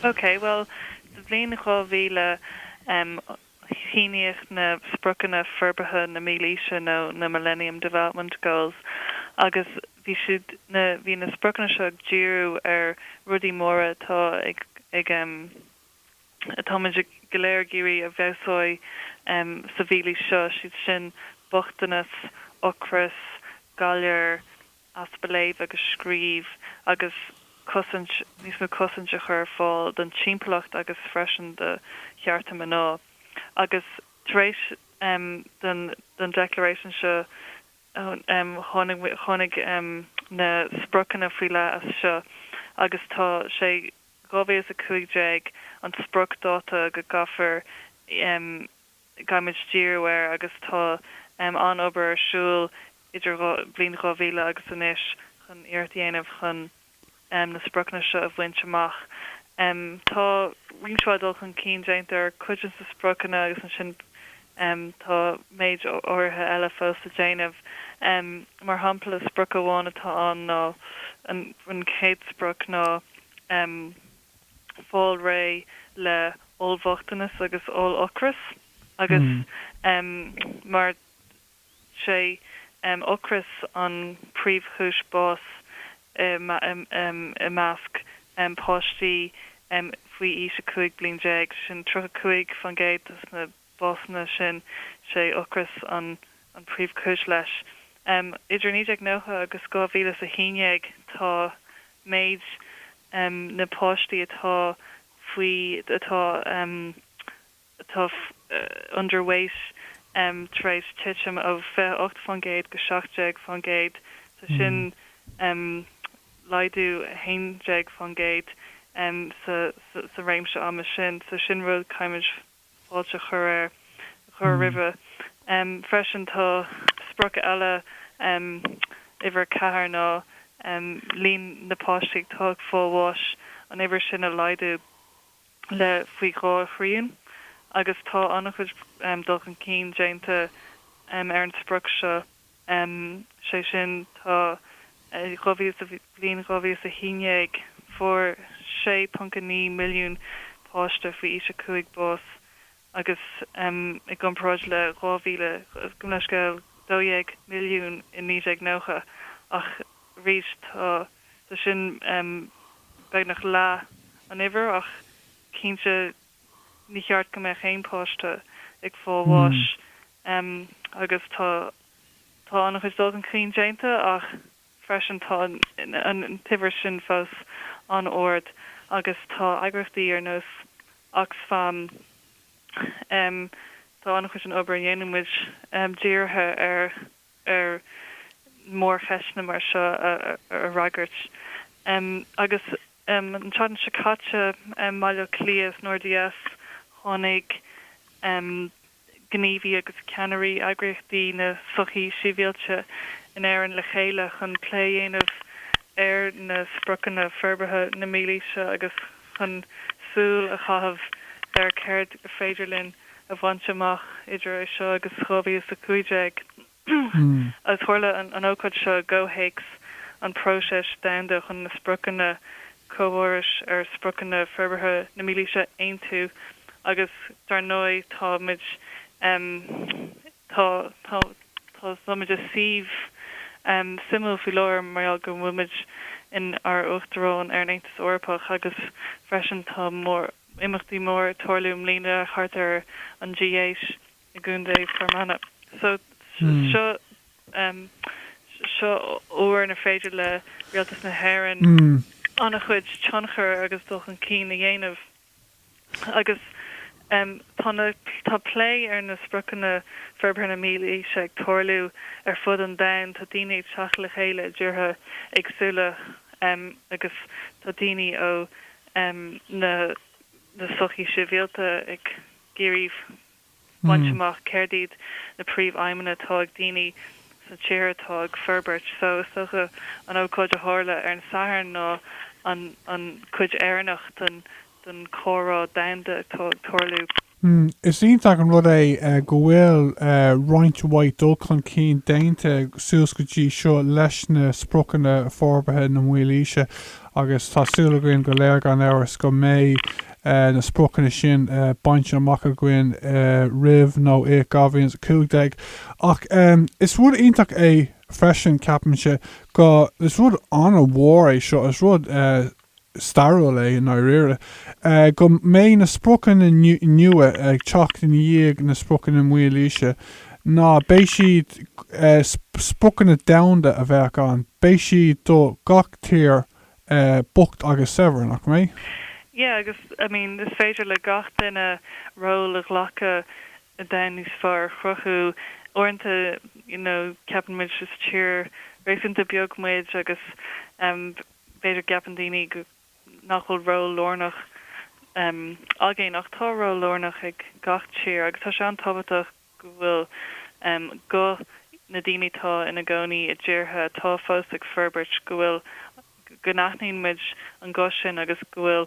OK, bhuel, sa bhliain 2000, shíníodh na Spriocanna Forbartha na Mílaoise nó na Millennium Development Goals agus bhí siad, na, bhí na spriocanna seo ag díriú ar rudaí móra atá ag, ag, atáimid go léir ag iarraidh a fheabhsú sa mhílaois seo, siad sin bochtanas, ocras, galar, easpa léamh agus scríobh agus cosaint, níos mó cosaint a chur ar fáil don timpeallacht agus freisin do chearta mná. Agus tar éis don don Declaration seo tháinig tháinig na spriocanna faoi leith as seo agus sé 2015 an spriocdáta go gcaithfear gcaithfimid díriú air agus tá an obair ar siúl idir bhliain 2000 agus anois chun iarracht a dhéanamh chun na spriocanna seo a bhaint amach. Tá roinnt mhaith dul chun cinn déanta ar chuid de na spriocanna agus ansin tá méid áirithe eile fós le déanamh. Mar shampla, sprioc amháin atá ann ná an chéad sprioc ná. fáil réidh le oll-bhochtanas agus oll-ocras agus mar sé ocras an príomh-chúis bás i measc páistí faoi aois 15 bliain, sin 35 faoin gcéad dos na. básanna sin. Sé ocras an príomhchúis leis. Idir 1990 agus 2011 tá méid na páistí atá faoi atá atá underweight tar éis titim ó 28% go 17%. So sin laghdú 11% sa sa réimse ama sin. So sin rud caithfimid. fáilte a chur air, a chur roimhe. Freisin tá sprioc eile, uimhir a ceathair, ná líon na páistí atá ag fáil bháis, an uimhir sin a laghdú le faoi dhá thrian agus tá an-chuid dul chun cinn déanta ar an sprioc seo. um, sé sin tá, eh, dhá mhíle sa bhliain dhá mhíle is a haon déag fuair sé ponc a naoi milliún páiste faoi aois a cúig bás agus, um, i gcomparáid le dhá mhíle, gabh mo leithscéal, dó dhéag milliún i naoi déag nócha ach arís tá, tá sin, um, beagnach leath an uimhir ach cinnte, Ní cheart go mbeadh aon páiste ag fáil bháis agus tá tá an-chuid dul chun cinn déanta ach freisin tá an t-uimhir sin fós an-ard agus tá eagraíochtaí ar nós Oxfam Tá an-chuid den obair a dhéanann muid dírithe ar ar mhórcheisteanna mar seo a fhreagairt agus an tseachtain seo caite i mBaile Átha Cliath san RDS tháinig gníomhaí agus ceannairí eagraíochtaí na sochaí sibhialta in Éirinn le chéile chun plé a dhéanamh ar na spriocanna forbartha na mílaoise agus chun súil a chaitheamh ar céard is féidir linn a bhaint amach idir é seo agus 2015, agus tharla an ócáid seo i gcomhthéacs an próiseas domhanda chun na spriocanna comhfhórais ar spriocanna forbartha na mílaoise a aontú agus, dar ndóigh, táimid. Tá, tá muid i suíomh suimiúil faoi láthair mar gheall go bhfuil muid in ár Uachtarán ar an Aontas Eorpach agus freisin tá mór, imeachtaí mór ag tarlú i mbliana thart ar an G8 i gContae Fir Manach. So, seo, seo uair inar féidir le Rialtas na hÉireann an-chuid tionchar agus dul chun cinn a dhéanamh. agus tá na tá plé ar na spriocanna forbartha na mílaoise ag tarlú ar fud an domhain. Tá daoine ag teacht le chéile i dtíortha éagsúla agus tá daoine ó na na sochaí sibhialta ag iarraidh. baint amach céard iad na príomhaidhmeanna atá ag daoine sna tíortha atá ag forbairt. So is dócha an ócáid a tharla ar an Satharn ná an an cuid Éireannach den den comhrá domhanda atá ag tarlú. Is iontach an rud é go bhfuil roinnt mhaith dul chun cinn déanta suas go dtí seo leis na Spriocanna Forbartha na Mílaoise agus tá súil againn go léir gan amhras go mbeidh na spriocanna sin bainte amach againn roimh nó i 2015. Ach is rud iontach é freisin, ceapaimse, go, is rud an-mhór é seo, is rud stairiúil é i ndáiríre, go mbeidh na spriocanna nua ag teacht ina dhiaidh na spriocanna mílaoise, ná beidh siad, spriocanna domhanda a bheadh ann, beidh siad do gach tír bocht agus saibhir, nach mé? Yeah, agus, I mean, is féidir le gach duine ról a ghlacadh i domhan níos fearr a chruthú. Uaireanta, you know, ceapann muid is tír réasúnta beag muid agus b'fhéidir gceapann daoine go, nach bhfuil ról lárnach againn ach tá ról lárnach ag gach tír agus tá sé an-tábhachtach, go bhfuil guth na ndaoine atá ina gcónaí i dtíortha atá fós ag forbairt, go bhfuil, go n-aithníonn muid an guth sin agus go bhfuil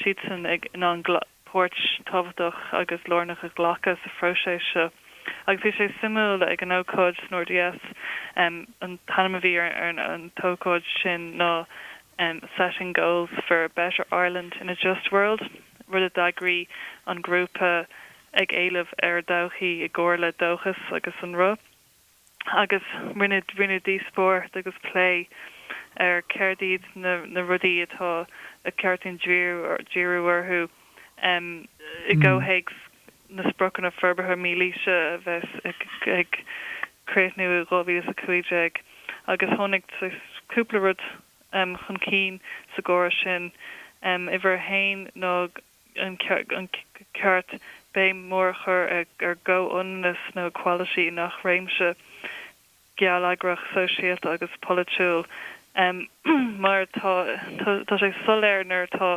siadsan ag, in ann páirt tábhachtach agus lárnach a ghlacadh sa phróiseas seo. Agus bhí sé suimiúil ag an ócáid san RDS, an t-ainm a bhí ar an ócáid sin ná Setting Goals for a Better Ireland in a Just World, rud a d'eagraigh an grúpa, Ag Éileamh Ár dTodhchaí i gcomhar le Dóchas agus an Roth agus rinneadh rinneadh díospóireacht agus plé ar céard iad na na rudaí atá ar cheart dúinn díriú díriú orthu em i gcomhthéacs na spriocanna forbartha mílaoise a bheas ag ag críochnú i 2015 agus tháinig saghas cúpla rud em chun cinn sa gcomhrá sin em uimhir a haon ná an ceart béim mhór a chur ar chomhionannas nó equality, i ngach réimse geilleagrach, sóisialta agus polaitiúil mar tá sé soiléir nuair atá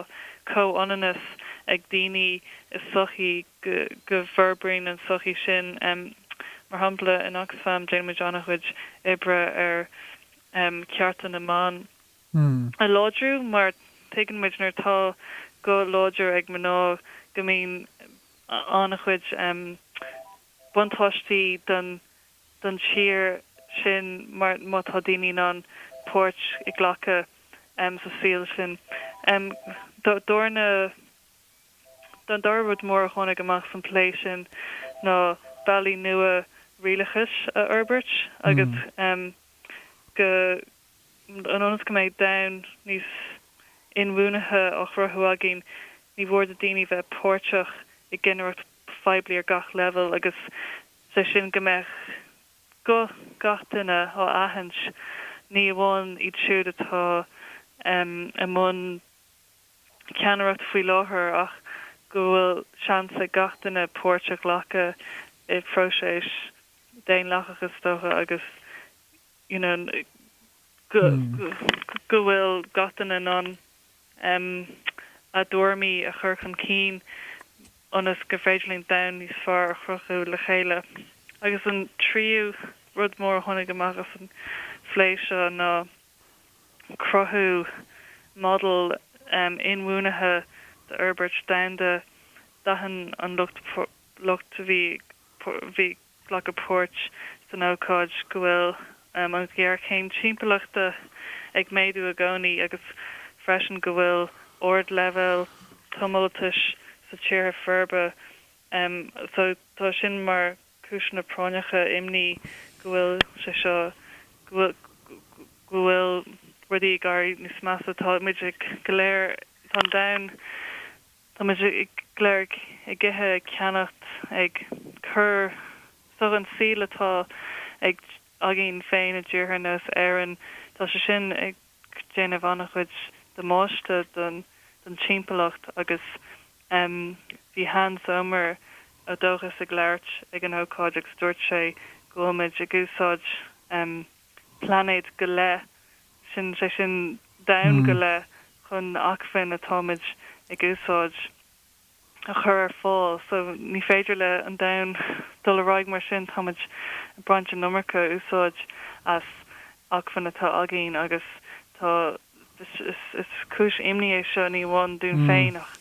comhionannas ag daoine i sochaí go bhforbraíonn an sochaí sin. Mar shampla, in Oxfam déanaimid an-chuid oibre ar chearta na mban. a láidriú mar tuigeann muid nuair atá guth láidir ag mná go mbíonn an-chuid buntáistí don tír sin mar má tá daoine in ann páirt a ghlacadh sa saol sin. An dara rud mór a tháinig amach san plé sin ná bealaí nua rialachais a fhorbairt agus go ionas go mbeidh domhan níos inbhuanaithe á chruthú againn, ní mór do daoine bheith páirteach i gcinnireacht phoiblí ar gach leibhéal, agus is é sin go mbeadh guth gach duine á aithint, ní amháin iad siúd atá i mbun ceannaireachta faoi láthair ach go bhfuil seans ag gach duine páirt a ghlacadh i bpróiseas daonlathach, is dócha, agus ionas go go bhfuil gach duine in ann a dtuairimí a chur chun cinn ionas gur féidir linn domhan níos fearr a chruthú le chéile. Agus an tríú rud mór a tháinig amach as an phlé seo ná cruthú model inbhuanaithe d'fhorbairt domhanda. D'aithin an lucht lucht a bhí ag glacadh páirt san ócáid go bhfuil an ghéarchéim timpeallachta ag méadú i gcónaí agus freisin go bhfuil ardleibhéal tomhaltais sa tíortha forbartha so tá sin mar chúiseanna práinneacha imní go bhfuil sé seo go bhfuil rudaí ag éirí níos measa tá muid go léir tá an domhan Tá muid go léir ag ithe, ag ceannacht, ag cur so an saol atá ag againn féin i dtíortha ar nós Éirinn. Tá sé sin ag déanamh an-chuid damáiste don don timpeallacht agus em bhí Hans Zomer ó Dóchas ag labhairt ag an ócáid agus dúirt sé go bhfuil muid ag úsáid em plainéad go leith sin, sé sin domhan go leith, chun na acmhainn atáimid ag úsáid a chur ar fáil. So ní féidir le an domhan dul ar aghaidh mar sin, táimid ag baint an iomarca úsáid as acmhainn atá againn agus tá, is cúis imní é seo ní amháin dúinn féin ach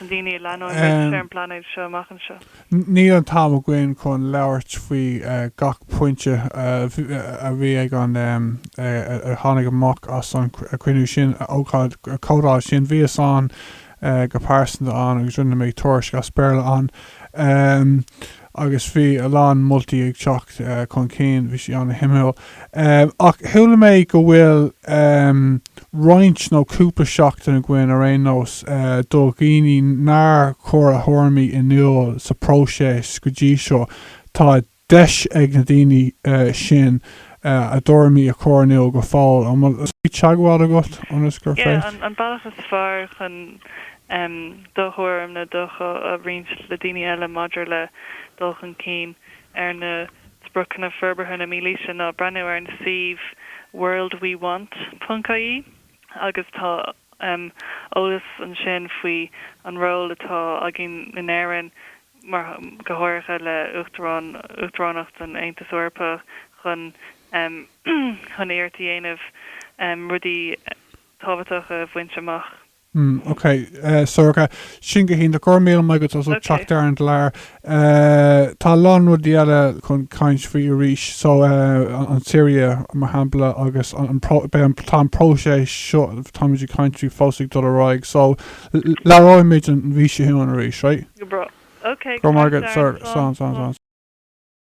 Ach do na daoine a leanóidh muid ar an bplainéad seo amach anseo. Níl an t-am againn chun labhairt faoi gach pointe a bhí ag an, a tháinig amach as an chruinniú sin, ócáid, comhdháil sin. Bhíos-sa go pearsanta ann agus rinne mé tuairisc as Béarla ann. agus bhí a lán moltaí ag teacht chun cinn, bhí sé an-shuimiúil. Ach chuala mé go bhfuil roinnt nó cúpla seachtain againn, ar aon nós, do dhaoine nár chuir a thuairimí in iúl sa phróiseas go dtí seo, tá deis ag na daoine sin a dtuairimí a chur in iúl go fóill. An bhfuil teagmháil agat ionas gur féidir. do thuairim is dócha a roinnt le daoine eile maidir le dul chun cinn ar na Spriocanna Forbartha na Mílaoise ná breathnú ar an suíomh worldwewant ponc ie agus tá eolas ansin faoi an ról atá againn in Éirinn mar go háirithe le Uachtarán Uachtaránacht an Aontas Eorpach chun chun iarracht a dhéanamh rudaí tábhachtacha a bhaint amach. mm ok eh sorcha sin go hiontach go raibh míle maith agat as ucht teacht ar an gclár eh tá a lán rudaí eile chun caint faoi arís so eh an tSiria mar shampla agus an beidh an tá an próiseas seo táimid ag caint faoi fós ag dul ar aghaidh so labhróimid an mhí seo chugainn arís right? go breá ok go raibh maith agat sir slán slán slán.